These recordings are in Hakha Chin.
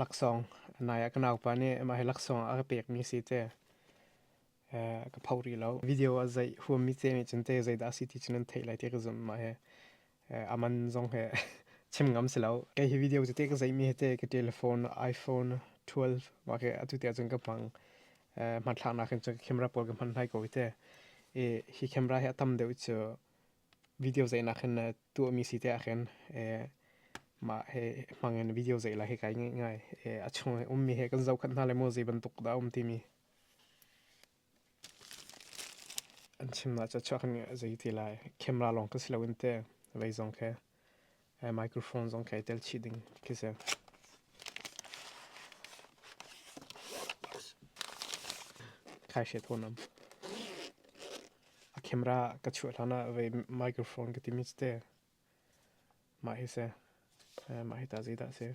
laksawng nai ah ka naupa nih mah hi laksawng a ka pekmi si te ka pho rih lo video a zeih huammi te nih cun te zeidah a si ti cun an theih lai ti ka zumh mah hi aman zong he chim ngam si lo kei hi video cu te ka zeihmi hi te ka telephone iphone 12 mah ke atu te cun ka hmang hmathlak nak in cun camera pawl ka hman lai ko te i hi camera hi a tam deuh cu video zeih nak hin tuahmi si te ah khin mah he hmang in video zeih la hi kai ngeih ngai a chung he ummi he kan zohkhat hna le maw zei bantuk dah um timi an chim na cha chuak ni zei ti lai camera long ka si lo in te vei zong khe Microphone zong kha i tel chih ding khi si. Khai hriat hon am. A camera ka chuah hlan ah vei microphone ka ti mit te. Mah hi se. Mah hi ta zi da se.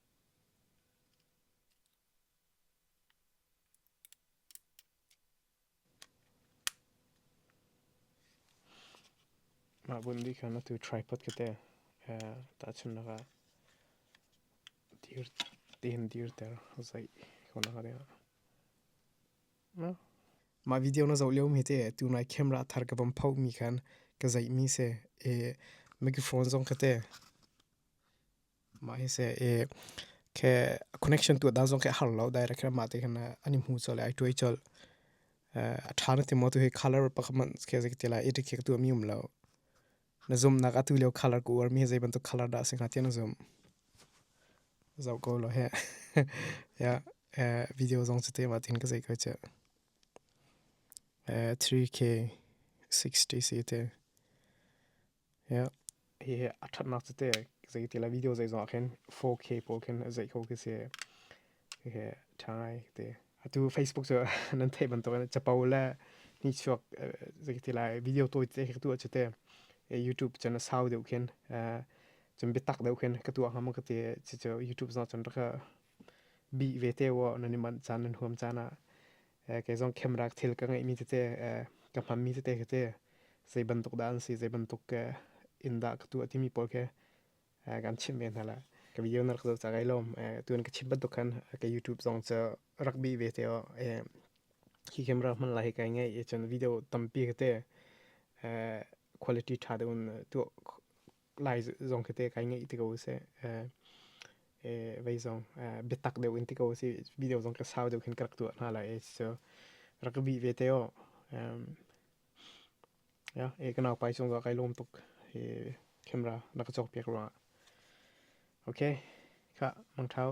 Mah bundi khan atu tripod kate tahchunnak ah dir tein dirter zaih ko nak ade. Mah video na zoh lio mi te tunai camera thar ka bam phoh mi khan ka zaih mi se microphone zong kate Ma hi se e ke connection tu dan zong ke har lo direct kra ma te khana ani mu chol ai tuai chol a tha na ti mo tu hi color pakman ke zik ti la i dik ke tu mi um lo na zoom na ka tu leo color ku war mi zai ban tu color da sing ha ti na zoom zau ko lo he ya video zong chu te ma tin ka zai ko che 3K60 si te Hihi a thatnak cu te zei ti la video zei zong ah khin 4K pawl khin zei kho khi si. Hihi thangai te. Atu Facebook cu nan theih bantuk in capo le ni chuak zei ti la video toi te khi tu a cu te YouTube chan a sau deuh khin cun biatak deuh khin ka tu ah ngam ka ti cucu YouTube zong cun rak ka bih ve te wo nan i manh caan nan huam caan ah. kei zong camera thil ka ngeihmi tete ka hmanmi tete khi te zei bantuk dah an si zei bantuk ke in dah ka tu a timi pawl ke kan chimh ve hna la ka video na rak zoh ca gai lom tuan ka chim bantuk khan ka youtube zong cu rak bi ve te o hi camera hman lai kai ngai e chun video tampi khi te quality tha de un tu lai zong khi te kai ngeih ti ko se e vei zong biatak deuh in ti ko si video zong ka sau deuh khin ka rak tuah hna lai e so rak bi ve te o ya e ka nau pai chung zo kai lom tuk e camera na ka chok piak ra okay ka mang thau